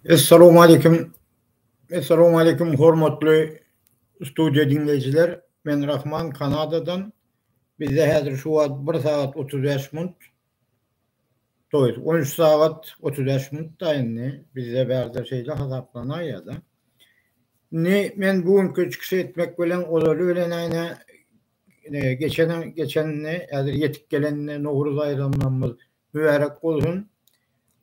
Essalamu aleýkum. Essalamu aleýkum hormatly studiýa diňleýjiler. Men Rahman Kanadadan. Bizde häzir şu wagt 1 sagat 35 minut. To jest on üç sagat otuz bäş minut da indi bizde bärde şeýle hasaplanaýýa-da. Indi men bu günki çykyş etmek bilen ozaly bilen äýne geçen geçenini häzir ýetip gelenini Nowruz baýramlarymyz mübärek bolsun.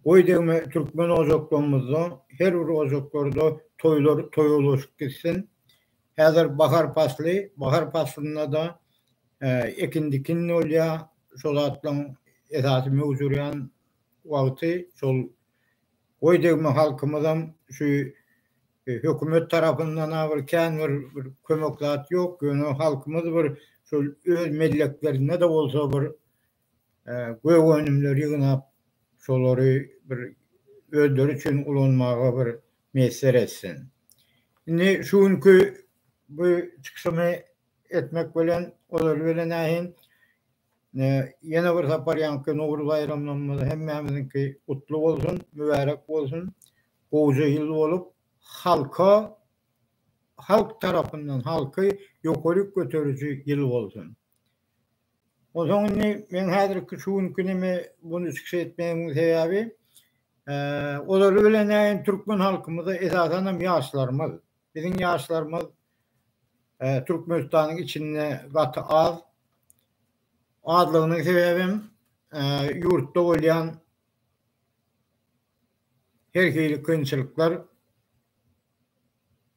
Goý degme türkmen ojaklarymyzda her bir ojaklarda toýlar toýa ulaşyp gitsin. Häzir bahar pasly, bahar paslynda-da ekin-dikin bolýar, şol zatlaryň esasy möwjürýän wagty, şol goý degme halkymyzam şu hökümet tarapyndan-a bir kän bir kömek zat ýok, ýöne halkymyz bir şol öz melleklerinde-de bolsa bir gök önümleri ýygnap, şolary bir özleri üçin ulanmaga bir miýesser etsin. Indi şu günki bu çykyşymy etmek bilen, olar bilen nähin, ýene bir sapar ýaňky Nowruz baýramlarymyz hemmämiziňki gutly bolsun, mübärek bolsun. Gowja ýyl bolup, halka, halk tarapyndan, halky ýokaryk göteriji ýyl bolsun. Onsoň indi men häzirki şu günki neme bunu çykyş etmegiň sebäbi olary bilen näin türkmen halkymyzy esasan hem ýaşlarymyz biziň ýaşlarymyz Türkmenistanyň içinde gaty az azlygynyň sebäbi hem ýurtda bolýan her hili kynçylyklar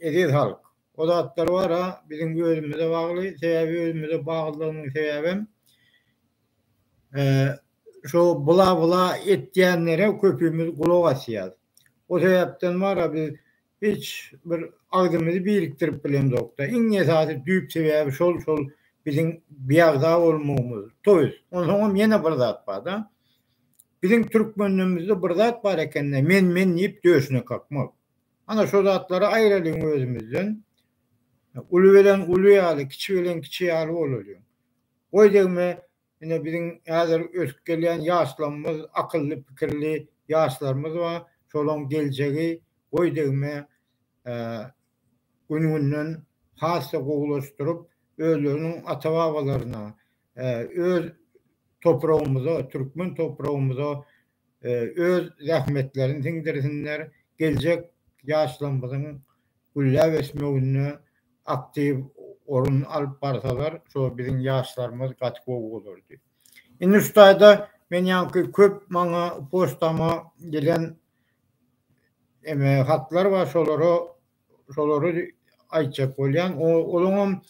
Eziz halk! O zatlar bar-a, biziň özümize bagly, sebäbi özümize baglydygynyň sebäbem, şo bla-bla etýänlere köpimiz gulak asýas. O sebäpden bar-a biz hiç bir agzymyzy birikdirip bilemzok-da. Iň esasy düýp sebäbi şol, şol biziň biagza bolmagymyz. To ýest, onsoňam ýene bir zat bar-da, biziň türkmenlerimizde bir zat bar eken-de, men-men diýip döşüne kakmak. Ana şo zatlary aýralyň özümizden. Uly bilen uly ýaly, kiçi bilen kiçi ýaly bolalyň. Goý degme ine biziň häzir ösüp gelýän ýaşlarymyz, akylly pikirli ýaşlarymyz bar, şolaň geljegi goý degme gün-günden has-da gowulaşdyryp, özleriniň ata-babalaryna, öz topragymyza, türkmen topragymyza öz zähmetlerini siňdirsinler, geljek ýaşlarymyzyň gülläp ösmeginde aktiw orun alyp barsalar, şo biziň ýaşlarymyz gaty gowy bolardy. Indi şu taýda men ýaňky köp maňa poçtama gelen eme hatlar bar, şolara şolary aýtjak bolýan. Olaňam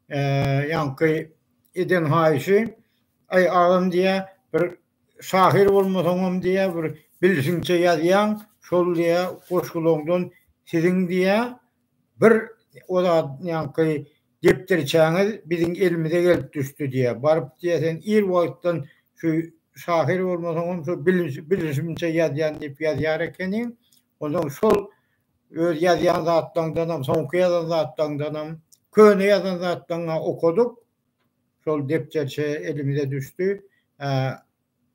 ýaňky eden haýyşy, aý agam diýýär, bir Şahyr bolmasaňam diýýär bir bilşiňçe ýazýaň, şol diýýär goşgulaňdan siziň diýýär bir o zatnýaňky depderçäňiz biziň elimize gelip düşdi diýýär. Baryp diýýär sen ir wagtdan şu şahyr bolmasaňam şu bilişimçe ýazýan diýip ýazýar ekeniň. Onsoň şol öz ýazýan zatlaňdanam, soňky ýazan zatlaňdanam, köne ýazan zatlaňy okadyk, şol depderçe elimize düşdi.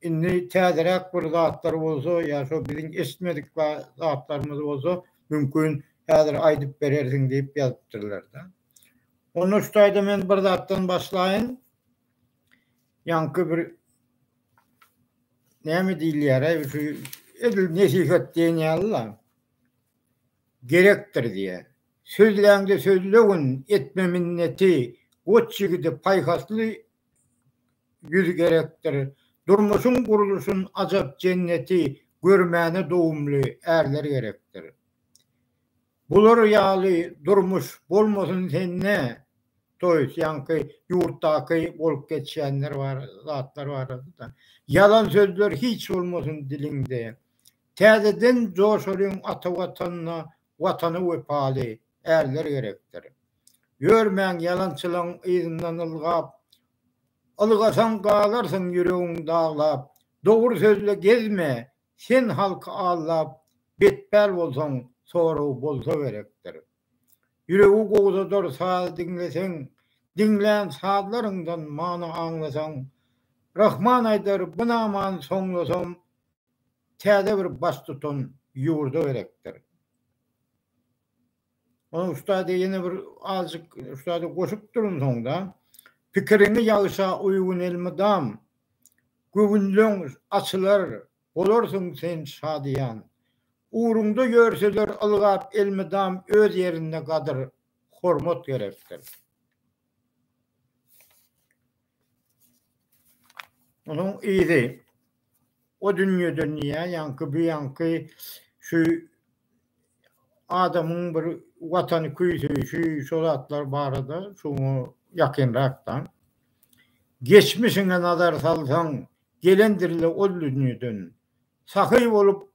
Indi täzeräk bir zatlar bolsa ýa şo biziň eşitmedik ba zatlarymyz bolsa mümkin häzir aýdyp berersiň diýip ýazypdyrlar-da. Onda şu taýda men bir zatdan başlaýyn. Ýaňky bir näme diýilýär-aý şu edil nesihat diýen ýaly-la. Gerekdir diýýär. Sözläňde sözlegin, etme minneti, Goç ýigide paýhasly ýüz gerekdir. Durmuşyň gurluşyn ajap jenneti, Görmäne dogumly ärler gerekdir. Bular ýaly durmuş bolmasyn sende, to ýest ýaňky ýurtdaky bolup geçýänler bar, zatlar barada. Ýalan sözler hiç bolmasyn diliňde. Täzeden joşalyň ata Watanda, Watana wepaly ärler gerekdir. Ýörmäň ýalançylaň yzyndan ylgap, Ylgasaň galarsyň ýüregiň daglap. Dogry sözle gezme, sen halky aldap, Betpäl bolsaň soragy bolsa gerekdir. Ýüregi gowzadar saz diňleseň, Diňlän sazlaryňdan many aňlasaň. Rahman aýdar, Binaman soňlasam, täze bir baştutan ýurda gerekdir. Ony ustad ýene bir azjyk ustada goşup durun soňda. Pikiriňi ýagşa uýgun elmydam göwünleň açylar bolarsyň sen şadyýan. Ugruňda ýörseler ylgap elmydam öz ýerinde gadyr hormat gerekdir. Onuň yzy o dünýeden ýa ýaňky bu ýaňky şu adamyň bir watany küýseýşi şu zatlar barada şuňa ýakynrakdan. Geçmişiňe nazar salsaň gelendirle ol dünýeden. Sahy bolup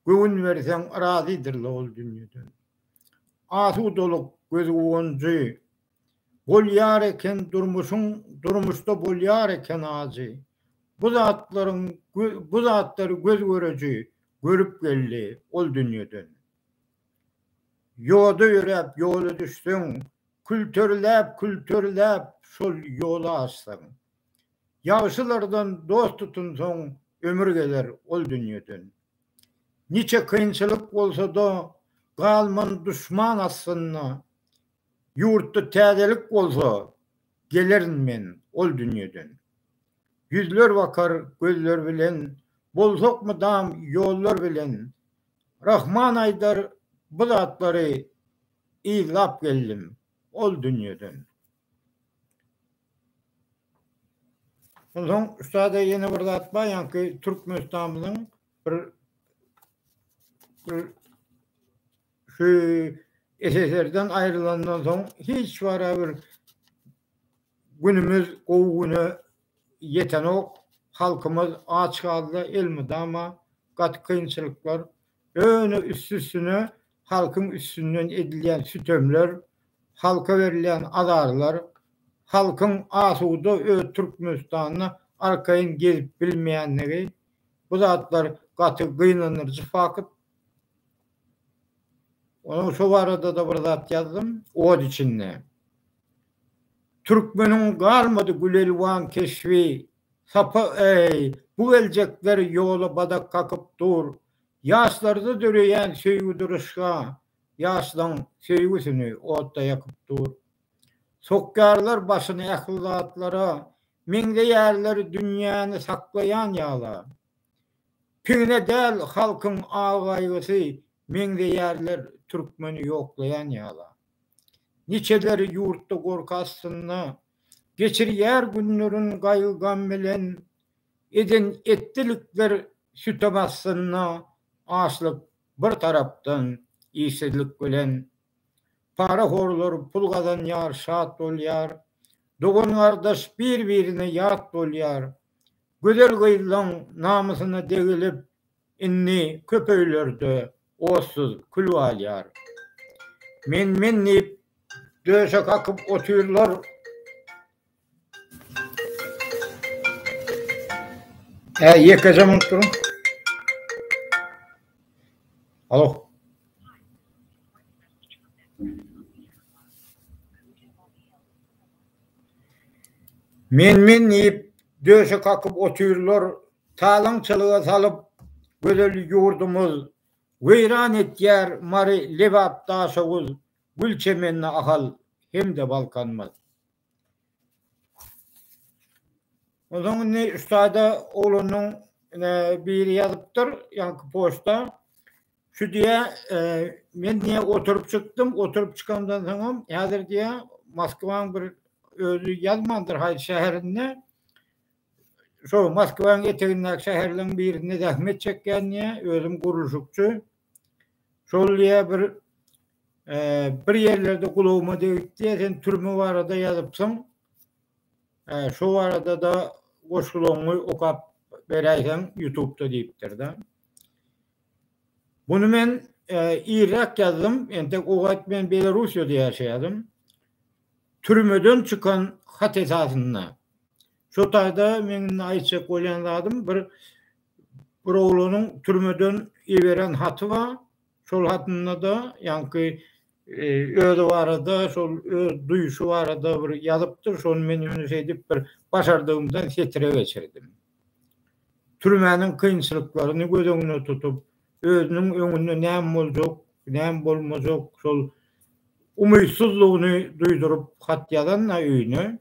göwün berseň razydyrla ol dünýeden. Asudalyk gözguwanjy. Bolýar eken durmuşyň durmuşda bolýar eken ajy Bu zatlaryň bu zatlary göz göreji görüp geldi ol dünýeden Ýoda ýöräp ýola düşseň külterläp külterläp şol ýoly aşsaň Ýagşylardan dost tutunsaň ömür geler ol dünýeden Niçe kynçylyk bolsada galman duşman astynda Ýurtda täzelik bolsa, gelerin men ol dünýeden. Ýüzler bakar gözler bilen, bolsak mydam ýollar bilen. Rahman aýdar bu zatlary, yzlap geldim ol dünýeden. Onsoň ussada ýene bir zat bar, ýaňky Türkmenistanymyzyň bir bir Şu SSR-den aýrylandan soň hiç wara bir günümiz gowy güne ýetenok. Halkymyz aç galdy, elmydama gaty kynçylyklar. Ýöne üsti-üstüne halkyň üstünden edilýän sütemler, halka berilýän azarlar, halkyň asuda öz Türkmenistanda arkaýyn gezip bilmeýändigi, bu zatlar gaty gynandyryjy fakt. Onuň şo barada-da bir zat ýazdym, Ot içinde. Türkmeniň galmady Gülelwan keşbi, Sapa eý, bu geljekler ýola badak kakyp dur, Ýaşlarda döreýän söýgi duryşga, Ýaşlaň söýgüsini otda ýakyp dur. Sokýarlar başyny ähli zatlara, Meňzeýärler dünýäni saklaýan ýala. Pigine däl halkyň agaýgysy meňzeýärler türkmeni ýoklaýan ýala. Niçeleri ýurtda gorky astynda geçirýär günlerin gaýgy-gam bilen eden etdilikler sütem astynda açlyk bir tarapdan işsizlik bilen para horlar pul gazanýar şat bolýar dogan-gardaş bir-birine ýat bolýar Gözel gyzlaň namysyna degilip, indi köp öýlerde otsuz kül galýar. Men-men diýip, döşe kakyp otyrlar. Men-men diýip, döşe kakyp otyrlar, talaňçylyga salyp, gözel ýurdumyz, weýran etýär Mary, Lebap, Daşoguz, Gülçemenli Ahal hem-de Balkanymyz. Onsoň indi şu taýda oglanyň biri ýazypdyr, ýaňky poçta. Şu diýä, men diýä oturyp çykdym, oturyp çykamdan soňam häzir diýä Moskwanyň bir özi ýazmandyr haýsy şäherinde, şo Moskwanyň etegindäki şäherleriň birinde zähmet çekýän diýä, özüm gurluşykçy. Şol diýä bir bir ýerlerde gulagyma degip diýä, sen türme barada ýazypsyň. Şo barada-da goşgularyňy okap beräýseň ýutubda diýipdir-de. Buny men irräk ýazdym, entek o wagt men Belorussiýada ýaşaýardym. Türmeden çykan hat esasynda. Şo taýda meň indi aýtjak bolýan zadym bir bir oglanyň türmeden iberen haty bar. Şol hatynda-da ýaňky özi barada şol öz duýuşy barada bir ýazypdyr şony men indi şeýdip bir başardygymdan setire geçirdim. Türmäniň kynçylyklaryny göz öňüne tutup özüniň öňünde näme boljak näme bolmajak şol umytsyzlygyny duýduryp hat ýazan-da öýüne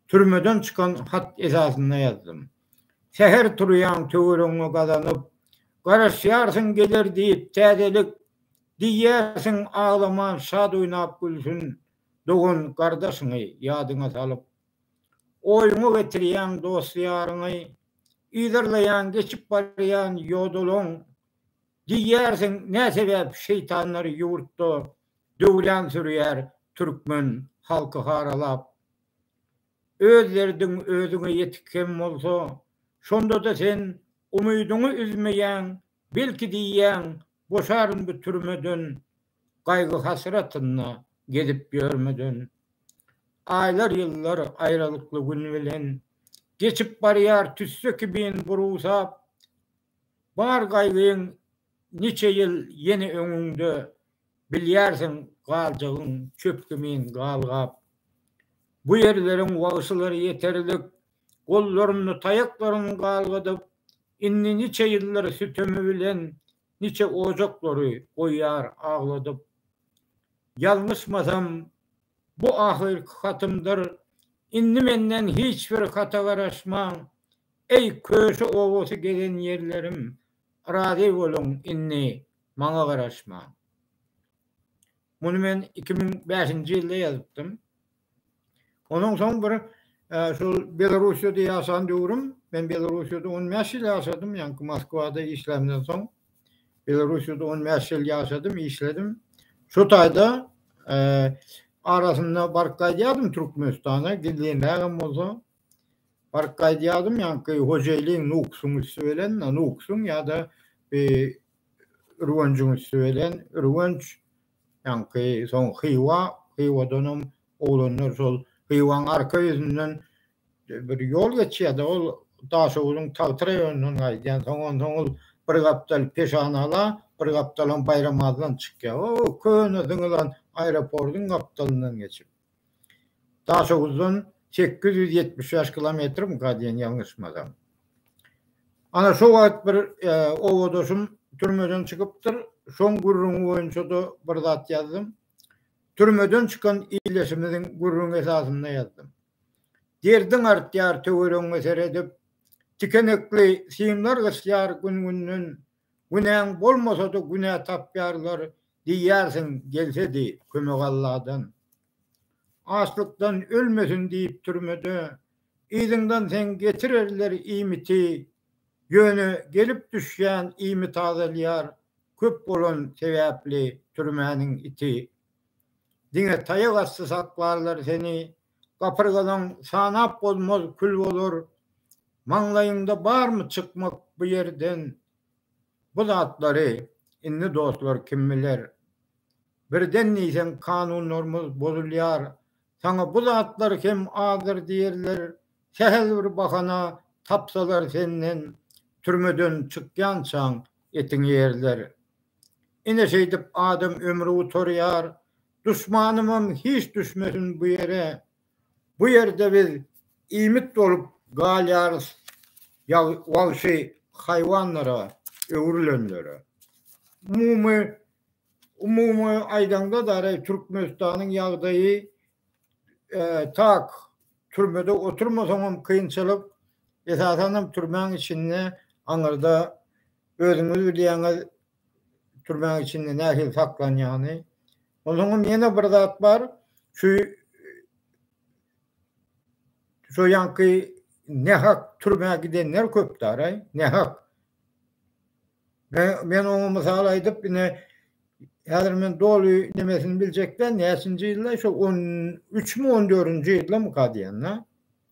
türmeden çykan hat esasynda ýazdym. Säher turýaň töweregiňe gazanyp garaşýarsyň geler diýip täzelik Diýýärsiň, aglaman, şat oýnap gülsün, dogan-gardaşyňy ýadyňa salyp. Oýuňa getirýäň dost-ýaryňy, yzarlaýaň geçip barýan ýodalaň. Diýýärsiň, nä sebäp şeýtanlar ýurtda döwran sürýär türkmen halky haralap. Öz derdiň özüňe ýetik hem bolsa, şonda-da sen umydyňy üzmeýäň, belki diýýäň, Boşaryn bu türmeden, Gaýgy-hasratynda gezip ýörmeden. Aýlar-ýyllar aýralykly gün bilen, Geçip barýar tüsse kimin burusap. Bar gaýgyň niçe ýyl ýene öňüňde, Bilýärsiň, galjagyn çöp kimin galgap. Bu ýerleriň wagşylary ýeterlik, gollarynda taýaklaryny galgadyp, indi niçe ýyldyr sütemi bilen niçe ojaklary goýýar agladyp. Ýalňyşmasam, bu ahyrky hatymdyr, indi menden hiç bir hata garaşmaň, eý, köşe obasy gezen ýerlerim, razy boluň, indi maňa garaşmaň. Muny men iki müň bäşinji ýylda ýazypdym. Onuň soň bir şol Belarusýada ýaşan döwrüm, men Belarusýada on bäş ýyl ýaşadym, ýaňky Moskwada işlämden soň Belarusýada on bäş ýyl ýaşadym, işledim. Şu taýda arasynda baryp gaýdýardym Türkmenistana, gizlinrägem bolsa baryp gaýdýardym, ýaňky hojaýlyň Nukusyň üsti bilen, Nukusyň ýa-da Ürgenjiň üsti bilen, Ürgenç Ýaňky soň Hywa, Hywadanam oglanlar şol Hywaň arka ýüzünden bir ýol geçýär-de, ol Daşoguzyň Tagty raýonyndan gaýdýan. Soň onsoň ol bir gapdal Peşanala, bir gapdalam Baýramazdan çykýar. O köne zyňylan aeroportyň gapdalyndan geçip. Daşoguzdan sekiz ýüz ýetmiş bäş kilometrimika diýen ýalňyşmasam. Ana şo wagt bir obadaşym türmeden çykypdyr, şoň gürrüňi boýunça-da bir zat ýazdym. Türmeden çykan ildeşimiziň gürrüňi esasynda ýazdym. Derdiň artýar töweregiňe seredip, tikenekli simler gysýar gün-günden, Günäň bolmasada günä tapýarlar diýýärsiň gelsedi kömek Alladan. Açlykdan ölmesin diýip türmede yzyňdan seň getirerler iýmiti ýöne gelip düşýän iýmit azalýar köp bolan sebäpli türmäniň iti. Diňe taýak asty saklarlar seni gapyrgadan sanap bolmaz kül bolar Maňlaýyňda barmy çykmak bu ýerden bu zatlary indi dostlar kim biler birden diýseň kanunlarymyz bozulýar saňa bu zatlar hem azdyr diýerler sähel bir bahana tapsalar senden türmeden çykýançaň etiňi ýerler ine şeýdip adam ömri gutarýar duşmanymam hiç düşmesin bu ýere Bu ýerde biz iýmit bolup galýarys wagşy haýwanlara öwrülenlere. Umumy umumy aýdaňda dara Türkmenistanyň ýagdaýy tak, türmede oturmasaň hem kynçylyk, esasan hem türmäň içinde aňyrda özüňiz bilýäňiz türmäň içinde nähili saklanýany. Onsoňam ýene bir zat bar, şu şu ýanky nähak türmä gidenler köp daraý, nähak. Men oňa mysal aýdyp, ine häzir men doly nemesini biljek däl, näçinji ýylda, şu on üçmi, on dördünji ýyldamyka diýen-de.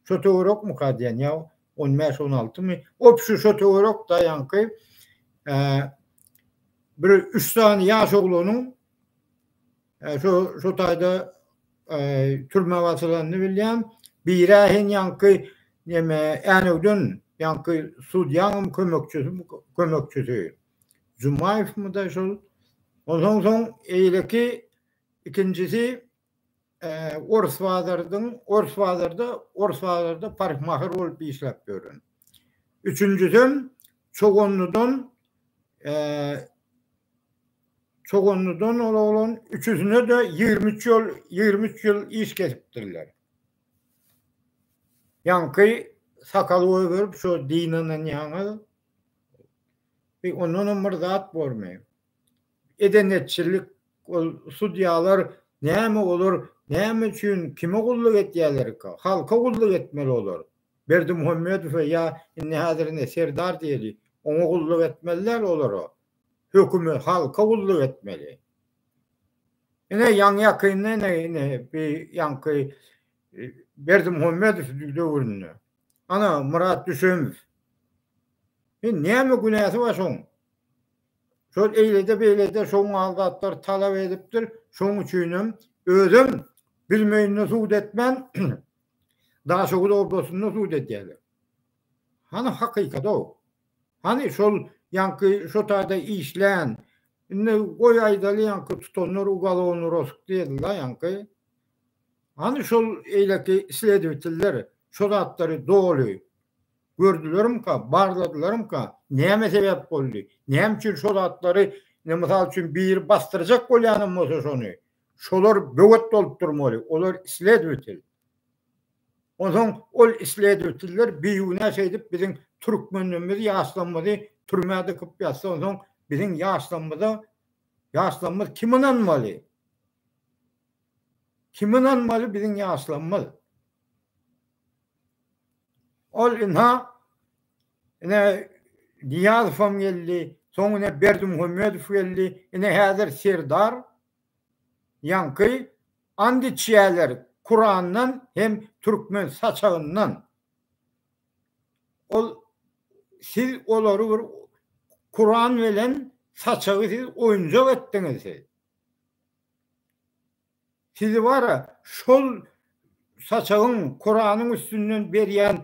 Şo töwerekmika diýen ýa on bäş on altymy op şu şo töwerek daýanky bir üç sany ýaş oglanyň şo şo taýda türmä basylanyny bilýän biri hen ýaňky neme änewden ýaňky sudýanyň kömekçisi kömekçisi jumaýewmyda şol onsoň soň eýleki ikinjisi Orus bazardyň, orus bazarda, orus bazarda parykmaher bolup işläp ýören. Üçünjisem Çoganlydan Çoganlydan ol oglan üçüsine-de 23 ýyl, 23 ýyl iş kesipdirler. Ýaňky sakal goýberip, şu dynananýaňyz. Ondanam bir zat bormy? edenetçilik ol sudýalar näme olar näme üçin kime gulluk etýälerika halka gulluk etmeli olar Berdimuhamedowa ýa indi häzir ine Serdar diýeli oňa gulluk etmeli däl olara höküme halka gulluk etmeli ine ýaňy ýakynda ine ine bir ýaňky Berdimuhamedow döwründe ana Myrat Düşemow men näme günäsi bar şoň Şol eýlede beýlede şo mal zatlar talap edipdir, şoň üçinem özem bilmeýinde sud etmän Daşoguz oblasynda sud edýäler. Hany hakykaty-ow? Hany şol ýaňky şo taýda işlän, indi goý aýdaly ýaňky tutanlar ugalowny rosk diýildi-la ýaňky. Hany şol eýleki sledwitiller şo zatlary doly Gördülerimka, barladylarmyka, näme sebäp boldy, näme üçin şo zatlary, ine, mysal üçin, biri basdyrjak bolýanam bolsa şony, şolar böwet bolup durmaly, olar isledwitel. Onsoň ol isledwitiller bigünä şeýdip biziň türkmenlerimizi, ýaşlarymyzy türmä dykyp ýatsa, onsoň biziň ýaşlarymyza, ýaşlarymyz kime ynanmaly? Kime ynanmaly biziň ýaşlarymyz? Ol ynha, ine, Nyýazowam geldi, soň ine Berdimuhamedow geldi, ine häzir Serdar, ýaňky and içýärler Kurandan hem türkmen saçagyndan. Ol siz olary bir Kuran bilen saçagy siz oýunjak etdiňiz siz. Sizi bara şol saçagyň kuranyň üstünden berýän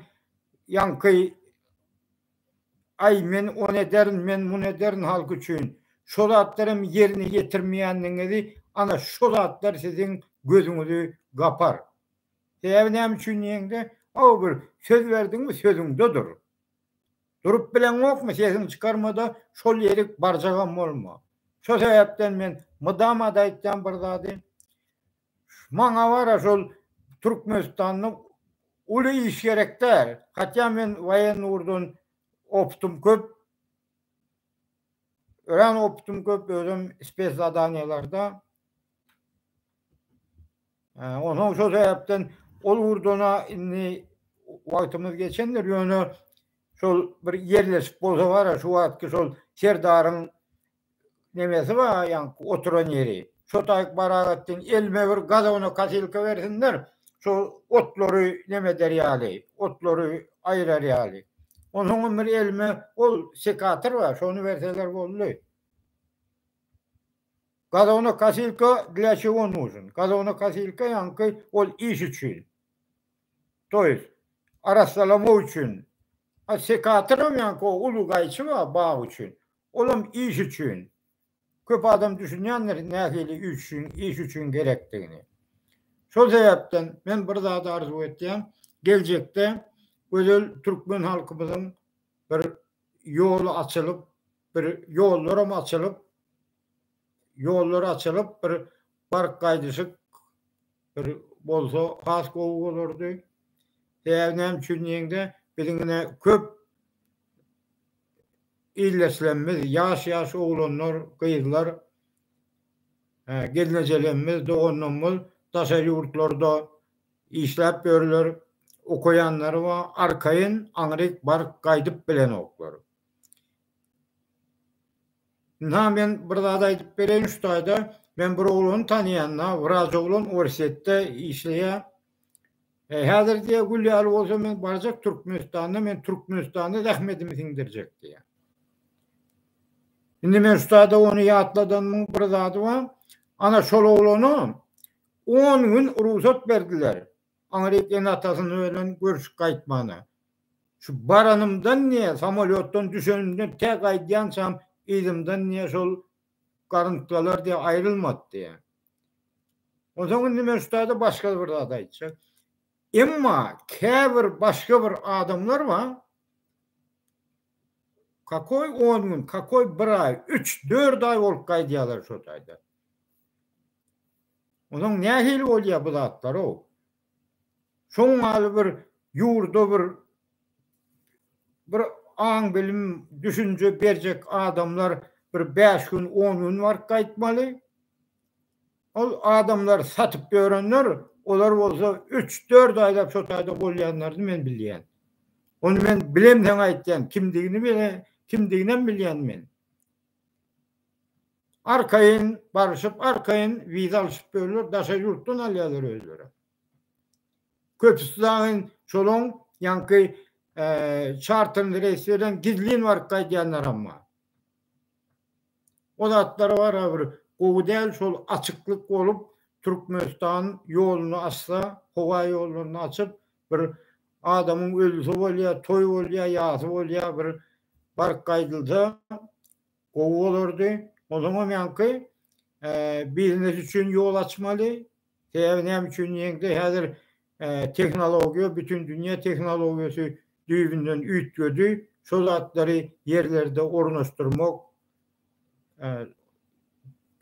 ýaňky aý men ony ederin men muny ederin halk üçin şo zatlaram ýerine ýetirmeýänligiňizi ana şo zatlar siziň gözüňizi gapar. Sebäbi näme üçin diýeňde o bir söz berdiňmi sözüňde dur. Durup bileňokmy sesiňi çykarmada şol ýerik barjagam bolma. Şo sebäpden men mydamada aýtýan bir zady. Maňa bara şol Türkmenistanda uly iş gerek däl. Hatýa men waýenny ugurdan opytym köp. Örän opytym köp özem spes zadaniýalarda. Onsoň şol sebäpden ol ugurdana indi wagtymyz geçendir, ýöne şol bir ýerleşik bolsa bara şu wagtky şol serdaryň nemesi bar, ýaňky oturan ýeri. Şo taýyk Baragatdin elime bir gazowna kasilka bersinler, şo otlary neme eder ýaly, otlary aýrar ýaly. Onsoňam bir elime ol sekator bar, şony berseler boldy. Gazownokosilka dla çego nuzn? Gazownokosilka ýaňky ol iş üçin. To ýest, arassalamak üçin. A sekatoram ýaňky o uly gaýçy bar bag üçin. Olam iş üçin. Köp adam düşünýändir nähili iş üçin, iş üçin gerekdigini. Şol sebäpden men bir zady arzuw etýän, geljekde gözel türkmen halkymyzyň bir ýoly açylyp bir ýollaram açylyp ýollar açylyp bir baryp gaýdyşyk bir bolsa has gowy bolardy. Sebäbi näme üçin diýeňde biziň ine köp ildeşlerimiz ýaş ýaş oglanlar gyzlar gelnejelerimiz doganlarymyz daşary ýurtlarda Işläp ýörler, okaýanlary bar, arkaýyn aňryk baryp gaýdyp bilenoklar. Ynha men bir zat aýdyp bereýin şu taýda, men bir oglany tanaýan-da, wraç oglan Orsýetde işleýär. Häzir diýýär, gül ýaly bolsa men barjak Türkmenistanda, men Türkmenistanda zähmetimi siňdirjek diýýär. Indi men şu taýda ony ýatladanymyň bir zady bar, ana şol oglana On gün rugsat berdiler. Aňryk ene-atasyny bilen görüşip gaýtmana. Şu baranymdan diýýär, samolýotdan düşenimden tä gaýdýançam yzymdan diýýär, şol garyntgalar diýýär, aýrylmady diýýär. Onsoň indi men şutada başga-da bir zat aýtjak. Emma käbir başga bir adamlar bar, kakoý on gün, kakoý bir aý, üç, dört aý bolup gaýdýarlar şo taýda. Onuň nähili bolýar bu zatlar-ow? Şoň ýaly bir ýurda bir bir aň-bilim, düşünje berjek adamlar bir bäş gün, on gün baryp gaýtmaly. Ol adamlar satyp ýörenler, olar bolsa üç-dört aýlap şo taýda bolýanlaryny men bilýän. Ony men bilemseň aýtýan, kimdigini kimdiginem bilýän men. Arkaýyn barşyp, arkaýyn wiza alşyp ýörler, daşary ýurtdan alýarlar özlerem. Köpüsi dagy şolaň ýaňky çarterli reýslerden gizlin baryp gaýdýanlaram bar. O zatlar barha bir gowy däl, şol açyklyk bolup, Türkmenistan ýoluny açsa, howa ýollaryny açyp, bir adamyň ölse bolýa, toý bolýa, ýasy bolýa, bir baryp gaýdylsa, gowy bolardy. Onuňam ýaňky biznes üçin ýol açmaly. Sebäbi näme üçin diýeňde häzir tehnologiýa bütin dünýä tehnologiýasy düýbünden üýtgedi. Şol zatlary ýerlerde ornaşdyrmak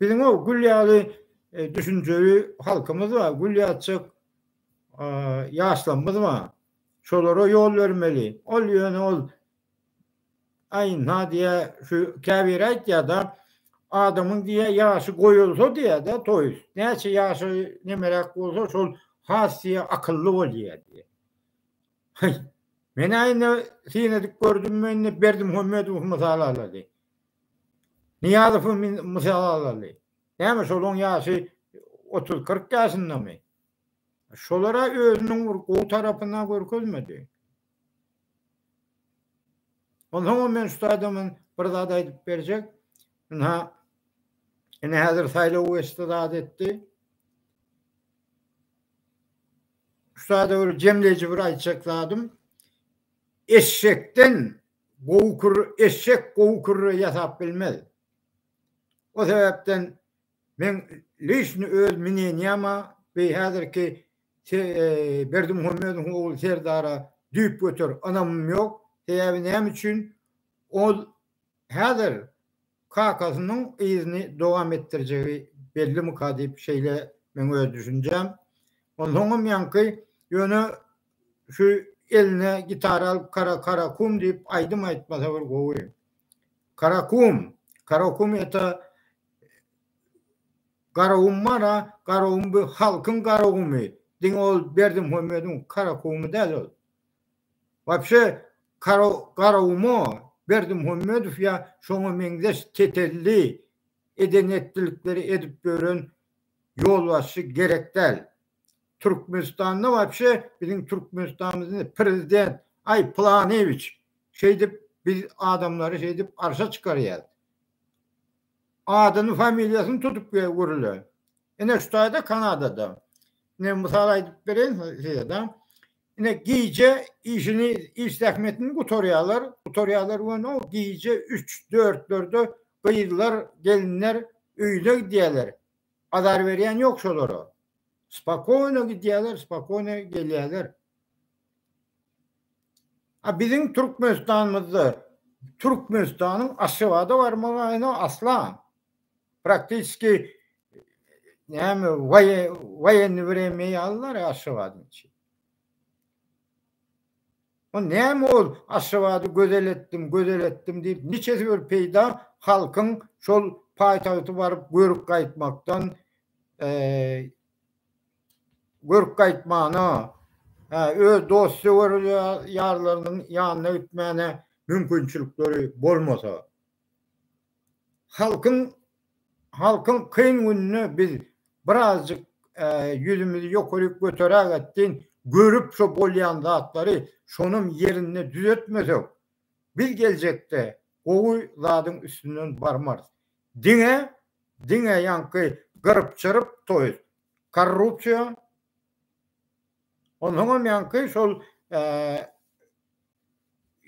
biziň o gül ýaly düşünjeli halkymyz bar, gül ýaçjak ýaşlarymyz bar. Şolara ýol bermeli. Ol ýöne ol Aý Nadýa şu käbiri aýtýada adamyň diýýä ýaşy goýulsa diýýädä toýs näçe ýaşy nemeräk bolsa şol has diýýä akylly bolýa diýýä. Haý menä indi syn edip gördüm men indi Berdimuhamedowy mysal alaly. Nyýazowy mysal alaly. Näme şolaň ýaşy otuz kyrk ýaşyndamy? Şolara özüniň bir gowy tarapyny görkezmedi. Onsoňam men şu taýdan men bir zat aýdyp berjek. Ynha, ine häzir saýlaw geçdi zat etdi. Şu taýda bir jemleýji bir aýtjak zadym. Eşşekden gowy kürre, eşşek gowy kürre ýasap bilmez. O sebäpden men lişni öz minenýama we häzirki Berdimuhamedowyň ogly Serdara düýp göter ynamym ýok. Sebäbi näme üçin? Ol häzir kakasynyň yzyny dowam etdirjegi bellimika diýip şeýle meň öz düşünjäm. Onsoňam ýaňky ýöne şu eline gitara alyp kara karakum diýip aýdym aýtmasa bir gowy. Karakum, karakum eta Garagumara Garagum bu halkyň Garagumy diňe ol Berdimuhamediň Karakumy däl ol. Wapşe Kara Garaguma Berdimuhamedow ýa şoňa meňzeş tetelli eden etdilikleri edip ýören ýolbaşçy gerek däl. Türkmenistanda wapşe biziň Türkmenistanymyzy prezident aý Pylanyýewiç şeýdip biz adamlary şeýdip arşa çykarýas. Adyny familiýasyny tutup görüle. Ine şu taýda Kanadada. Ine mysal aýdyp bereýin size da. Ine gije işini iş zähmetini gutarýarlar. Gutarýarlar we no gije üç, dörtlerde gyzlar, gelinler öýüne gidýärler. Azar berýän ýok şolara. Spokony gidýärler, spokony gelýärler. A biziň Türkmenistanymyzda Türkmenistanyň Aşgabada barmagyna asla praktiski näme waýenni wremýa ýalylar Aşgabadyň içi. O näme ol Aşgabady gözel etdim, gözel etdim diýip niçesi bir peýda halkyň şol paýtagty baryp görüp gaýtmakdan Görk gaýtmana, hä, öz dost-söwer ýarlarynyň ýanyna gitmäne mümkinçilikleri bolmasa. Halkyň, halkyň kyn gününe biz birazjyk ýüzümizi ýokaryk göteräg etsin, görüp şo bolýan zatlary, şonam ýerinde düzetmesek, biz geljekde gowy zadyň üstünden barmarys. Diňe, diňe ýaňky gyryp-çyryp toýuz. Korrupsiýa onsoňam ýaňky şol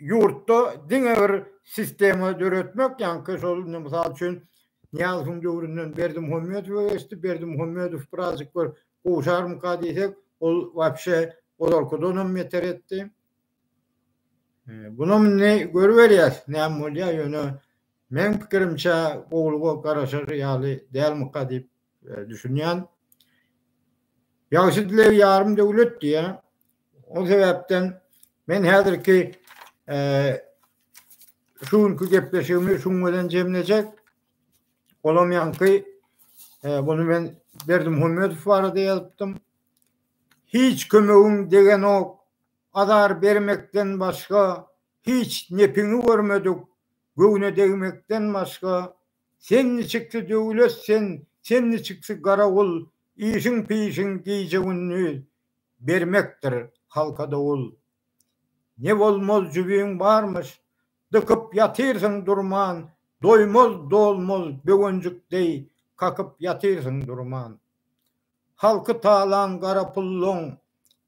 ýurtda diňe bir sistema döretmek ýaňky şol indi mysal üçin Nyýazowyň döwründen Berdimuhamedowa geçdi, Berdimuhamedow birazjyk bir gowşarmyka diýsek, ol wapşe olarkydanam beter etdi. Bunam indi görüberýäs näme bolýar, ýöne meň pikirimçe gowulyga garaşar ýaly dälmyka diýip düşünýän. Ýagşy dileg ýarym döwlet diýýär. O sebäpden men häzirki şu günki gepleşigimi şuň bilen jemlejek. Olam ýaňky bunu men Berdimuhamedow barada ýazypdym. Hiç kömegiň degenok, azar bermekden başga hiç nepiňi görmedik, göwne degmekden başga Sen niçiksi döwlet sen, sen niçiksi garawul, Işiň pişiň gije-gündiz, bermekdir halka dowul. Ne bolmaz jübiň barmyş, dykyp ýatyrsyň durman, Doýmaz, dolmaz böwenjik deý, kakyp ýatyrsyň durman. Halky talan gara pulluň,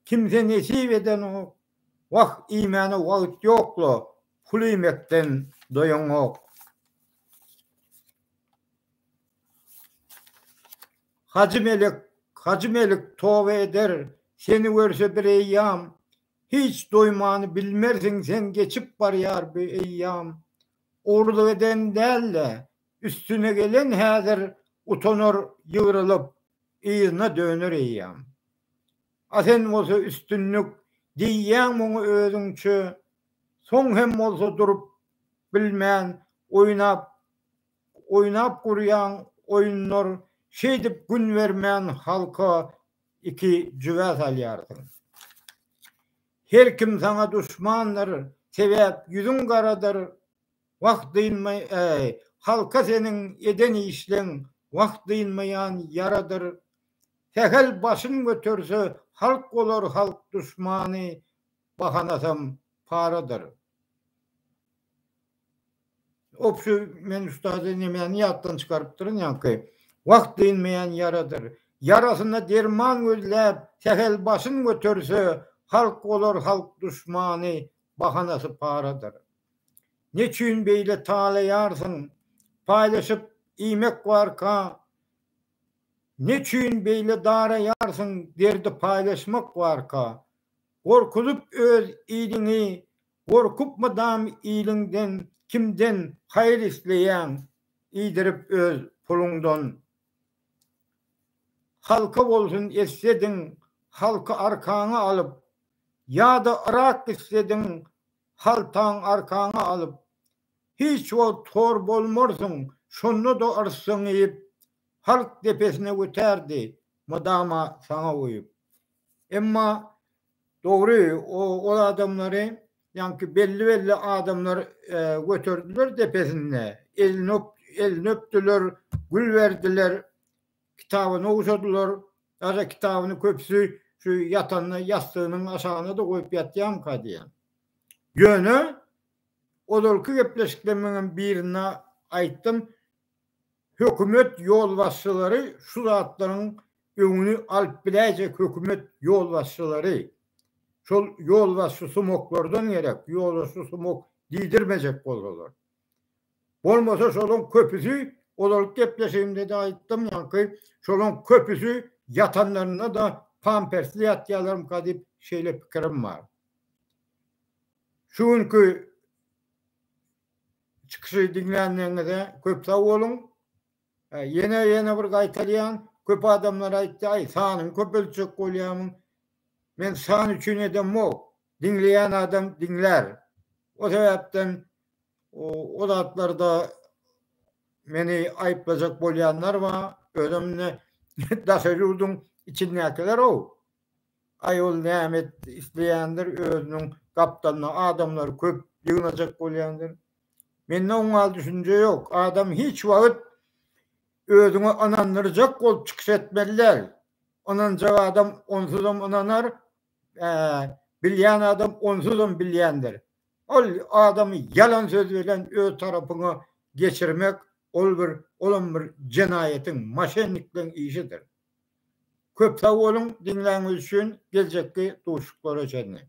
kimse nesip edenok, Wah, iýmäne wagt ýok-la, Pulýmekden doýaňok. Hajy melek, Hajy melek toba eder, seni görse bir eýýam, Hiç doýmany bilmersiň sen geçip barýar bu eýýam. Ogrulyk eden däl-de, üstüne gelen häzir, Utanar ýygrylyp, yzyna döner eýýam. A sen bolsa üstünlik diýýäň muňa özüňçe, soň hem bolsa durup bilmän oýnap oýnap gurýaň oýunlar şeýdip gün bermän halka iki jübä salýarsyň. Her kim saňa duşmandyr sebäp ýüzüň garadyr Wah dynmaý-äý, halka seniň eden işleň wah dynmaýan ýaradyr. Sähel başyn göterse halk bolar halk duşmany, bahanasam paradyr. Obşy men ustady nemäni ýatdan çykarypdyryn ýaňky. Wah dynmaýan ýaradyr. Ýarasyna derman gözläp sähel başyn göterse halk bolar halk duşmany, bahanasy paradyr. Neçün beýle talaýarsyň paýlaşyp iýmek barka Neçün beýle daraýarsyň derdi paýlaşmak barka Gorkuzyp öz iliňi gorkup mydam iliňden kimden haýyr isleýäň iýdirip öz puluňdan Halka bolsun eslediň halky arkaňa alyp ýada yrak islediň Haltaň arkaňa alyp, hiç wagt hor bolmarsyň, şonda-da yrssyň iýip, halk depesine götärdi, mydama saňa guýup. Emma dogry, ol adamlary, ýaňky belli-belli adamlar göterdiler depesinde, elini öpdüler, gül berdiler, Kitaby nowşadylar. Ýa-da kitabyny köpüsi şu ýatanda ýassygynyň aşagyna-da goýup ýatýarmyka diýýän. Ýöne, ozalky gepleşiklerimiňem birinde aýtdym, hökümet ýolbaşçylary şu zatlaryň öňüni alyp biläýjek hökümet ýolbaşçylary. Şol ýolbaşçy sumaklardan gerek, ýolbaşçy sumak diýdirmejek bolsalar. Bolmasa şolaň köpüsi, ozalyk gepleşigimde-de aýtdym, ýaňky şolaň köpüsi ýatanlarynda-da pampersli ýatýarlarmyka diýip şeýle pikirim bar. Şu günki çykyşy diňlänligiňize köp sag boluň. Ýene ýene bir gaýtalýan, köp adamlar aýtdy, aý sanyňy köpeltjek bolýarmyň? Men san üçin edemok. Diňleýän adam diňlär. O sebäpden o zatlarda meni aýyplajak bolýanlar bar. Özem indi daşary ýurduň içindäkiler-ow. Aý ol näme et, isleýändir, özüniň gapdalyna adamlary köp ýygnajak bolýandyr. Mende oňa düşünje ýok. Adam hiç wagt özüňi ynandyrjak bolup çykyş etmeli däl. Ynanjak adam onsuzam ynanar, Bilýän adam onsuzam bilýändir. Ol adamy ýalan söz bilen öz tarapyňa geçirmek, ol bir, olam bir jenaýatyň, moşennikligiň işidir. Köp sag boluň diňläniňiz üçin, geljekki duşuşyklara çenli.